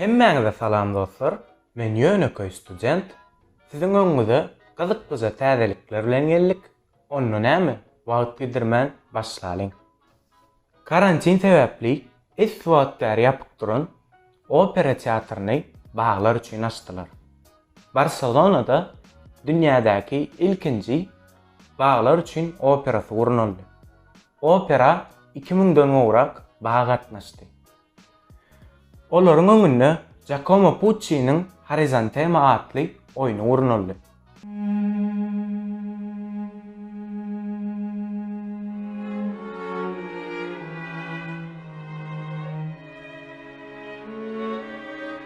Hemmäňize salam dostlar, men ýönekeý student, siziň öňüňize gyzyklyja täzelikler bilen geldik, Onda näme, wagt gidirmän başlalyň. Karantin sebäpli esli wagt bäri ýapyk duran Opera teatryny baglar üçin açdylar. Barselonada dünýädäki ilkinji baglar üçin operasy gurnaldy. Opera iki müňden gowrak bag gatnaşdy. Olaryň öňünde Jakomo Puççiniň Horizantema atly oýny gurnaldy.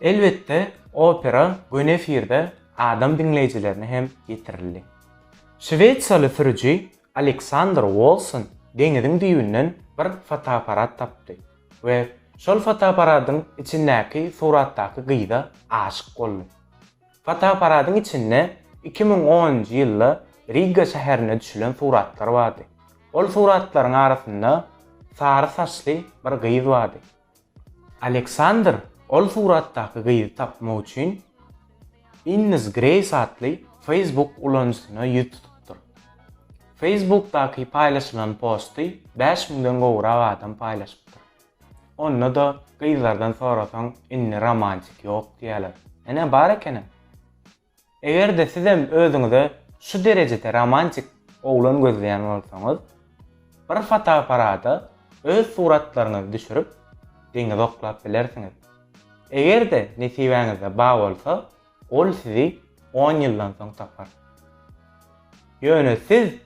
Elbetde, opera göni efirde adam diňleýjilerine hem ýetirildi. Şwesiýaly sürüji Aleksandr Wolson deňiziň düýbünden bir fotoapparat tapdy we şol fotoapparadyň içindäki suratdaky gyza aşyk boldy. Fotoapparadyň içinde iki müň onunjy ýylda Riga şäherinde düşülen suratlar bardy. Ol suratlaryň arasynda sary saçly bir gyz bardy. Aleksandr ol suratdaky gyzy tapmak üçin Innis Greýs atly Facebook ulanyjysyna ýüz tutupdyr. Facebookdaky paýlaşylan posty bäş müňden gowrak adam paýlaşypdyr. Onda-da gyzlardan sorasaň indi romantik ýok diýýäler. Ene bar ekenem. Eger-de sizem özüňize şu derejede romantik oglan gözleýän bolsaňyz, bir fotoaparada öz suratlaryňyzy düşürip, deňize oklap bilersiňiz. Eger-de nesibäňizde bar bolsa, ol sizi on ýyldan soň tapar. Ýöne siz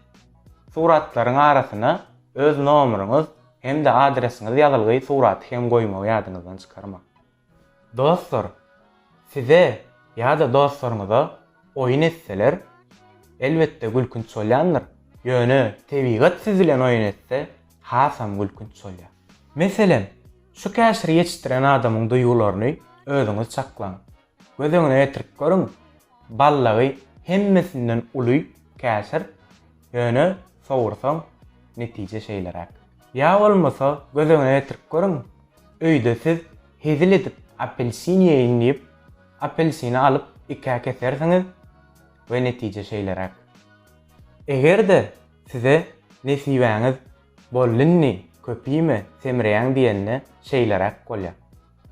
suratlaryň arasyna öz nomeriňiz hem-de adresiňiz ýazylgy suraty hem goýmagy ýadyňyzdan çykarmaň. Dostlar size ýa-da dostlaryňyza oýun etseler, elbetde gülkünç bolýandyr, ýöne tebigat siz bilen oýun etse, hasam gülkünç bolýar. Meselem, şu käşiri ýetişdiren adamyň duýgularyny özüňiz çaklaň. Göz öňüne getirip görüň, ballagy hemmesinden uly käşir, ýöne sowursaň, netije şeýleräk. Ýa bolmasa göz öňüne getirip görüň, öýde siz hezil edip apelsin ýeýin diýip, apelsini alyp ikä kesersiňiz we netije şeýleräk. Eger-de size nesibäňiz Bol indi, köp iýme, semreýäň diýende şeýleräk bolýar.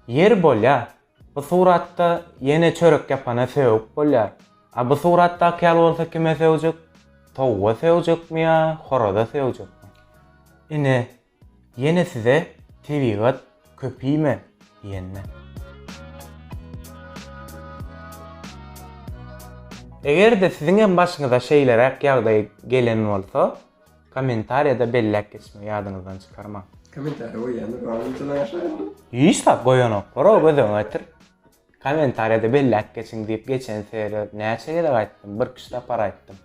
Ýeri bolýar, Bu suratda ýene çörek ýapana sögüp bolýar. A bu suratdaky ýaly bolsa kime sögjek? Towga sögjekmi ýa horaza sögjekmi? Ine, ýene size tebigat köp iýme diýende. Eger-de siziň hem başyňyza şeýleräk ýagdaý gelen bolsa, Kommentariýada belläp geçme ýadyňyzdan çykarmaň. Kommentariýa goýýandyr bar munçadan aşagyna. Hiç zat goýanoklar o göz öňüne getir. Kommentariýada belläp geçiň diýip geçen serýa näçe gezek aýtdym bir kişi tapar aýtdym.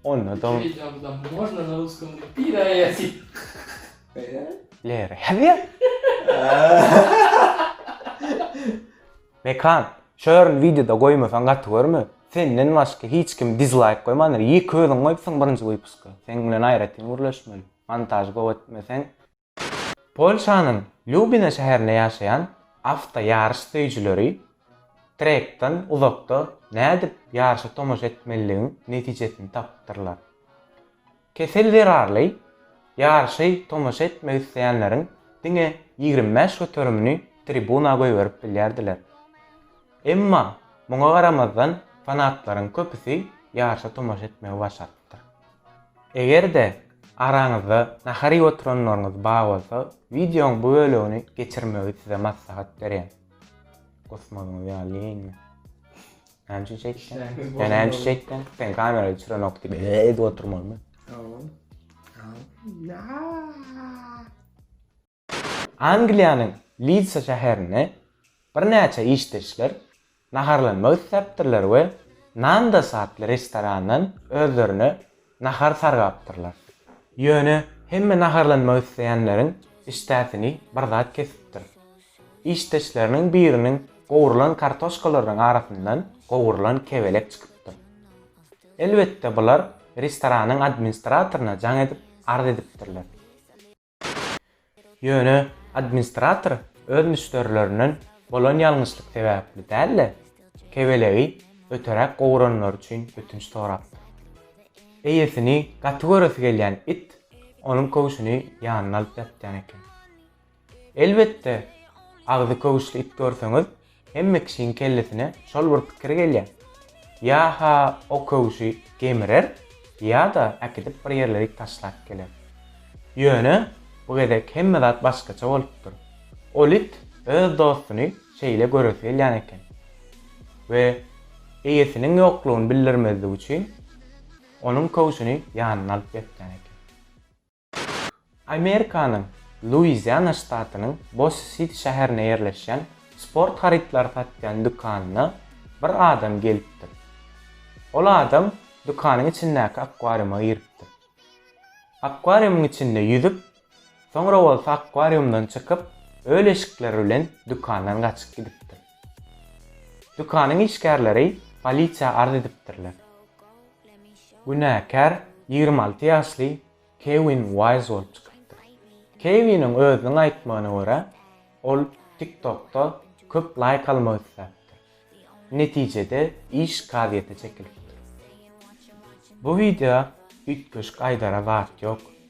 Onda da. Iki wideo da можно na ruskom diýip pire ýazýar. Pire? Lere ýazýar. Mekan, şo ýerini wideoda goýmasaň gaty görme, senden başga hiç kim dizlaýk goýmandyr, ýeke özüň goýupsyň birinji wypuska, seň bilen aýratyn gürleşmeli, montažy gowy etmeseň. Polşanyň Lýubina şäherinde ýaşaýan awto ýaryş söýüjileri trekden uzakda nädip ýaryşa tomaşa etmeliligiň netijesini tapypdyrlar. Kesel zerarly ýaryşy tomaşa etmek isleýänleriň diňe ýigrimi bäş göterimini tribuna goýberip bilýärdiler. Emma muňa garamazdan fanatlaryň köpüsi ýaryşa tomaşa etmegi başarypdyr. Eger-de araňyzda nahar iýip oturanlaryňyz bar bolsa, wideoň bu bölegini geçirmegi size maslahat berýän. Gosmosyňyz ýaly diýeýinmi? Näme çekdin? Sen näme çekdin? Sen kamerayı düşüren ok diýip edip oturmalymy? Angliýanyň Lidsa şäherinde birnäçe işdeşler naharlanmak isläpdirler we Nandas atly restorandan özlerine nahar sargapdyrlar. Ýöne hemme naharlanmak isleýänleriň işdäsini bir zat kesipdir. Işdeşleriniň biriniň gowrulan kartoşkalarynyň arasyndan gowrulan kebelek çykypdyr. Elbetde bular restoranyň administratoryna jaň edip arz edipdirler. Ýöne administrator öz müşderilerinden bolan ýalňyşlyk sebäpli däl-de, kebelegi öteräk gowuranlary üçin ötünç sorapdyr. Eýesini gaty göresi gelýän it onuň köwşüni ýanyna alyp ýatýan eken. Elbetde, agzy köwüşli it görseňiz, Hemme kişiň kellesine şol bir pikir gelýär. Ýa-ha o köwşi gemirer, ýa-da äkidip bir ýerlerik taşlap geler. Ýöne, bu gezek hemme zat başgaça bolupdyr. Ol it öz dostuny şeýle göresi gelýän eken we eýesiniň ýoklugyny bildirmezlik üçin, onuň köwşüni ýanyna alyp ýatýan eken. Amerikanyň Luiziana ştatynyň Bossi-Siti şäherinde ýerleşýän sport harytlary satýan dükanyna bir adam gelipdir. Ol adam dükanyň içindäki akwariuma giripdir. Akwariumyň içinde ýüzüp, soňra bolsa akwariumdan çykyp, öl eşikleri bilen dükandan gaçyp gidipdir. Dükanyň işgärleri polisiýa arz edipdirler. Günäkär ýigrimi alty ýaşly Kewin Waýz bolup çykypdyr. Kewiniň özüniň aýtmagyna görä, ol TikTok-da köp laýk almak isläpdir. Netijede iş kazyýete çekilipdir. Bu wideo üýtgeşik aýdara zat ýok.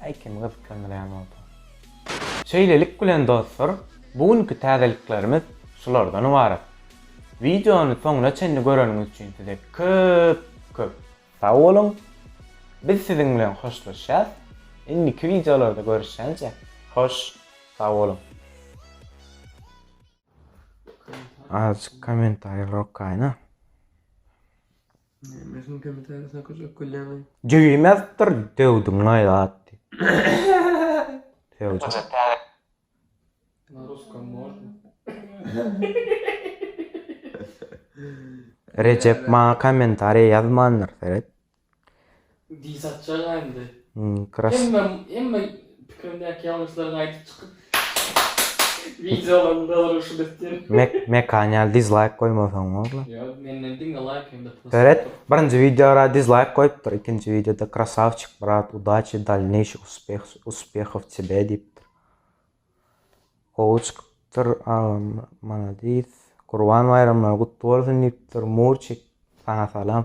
Häý kim gyzyklandyrýan bolsa. Şeýlelik bilen dostlar bu günki täzeliklerimiz şulardan ybarat. Wideony soňuna çenli göreniňiz üçin size köp köp. Sag boluň. Biz siziň bilen hoşlaşýas. Indiki wideolarda görüşýänçä hoş sag boluň. Azjyk komentariýalar okaýyna. Jübimezdir döwdüň aý atdy. Rejep maňa kommentariýa ýazmandyr seret. Diý satjaga indi. Hemme hemme pikirimdäki ýalňyşlaryňy aýdyp çykyp wideolaryň dolanyşyny etýän. Mek mekan ýaly dizlaýk goýmasaň boldy. Ýok menden diňe laýk hem-de plusy. Beret birinji wideora dizlaýk goýupdyr ikinji wideoda krasawçik brat udaçi dalneýşih uspeh uspehow tebe diýipdir. Gowy çykypdyr agam maladis. Gurban baýramlary gutly bolsun diýipdir Murçik saňa salam.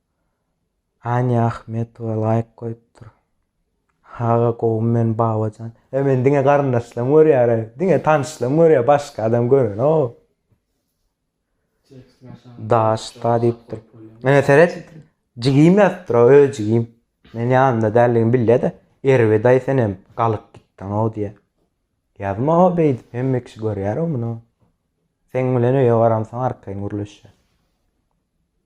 Anýa Ahmetowa laýk goýupdyr. Aga gowymy men Babajan. E men diňe garyndaşlarym görýär, diňe tanyşlarym görýär, başga adam görenok. Daşda diýipdir. Ene seret. Jigim ýatypdyr, öz jigim. Men ýanynda däldigini bilýä-de, Erwe daýy senem galyk gitdiň-ow diýýä. Ýazma o beýdip, hemme kişi görýär-ow muny. Seň bilen öýe baramsoň arkaýyn gürleşýär.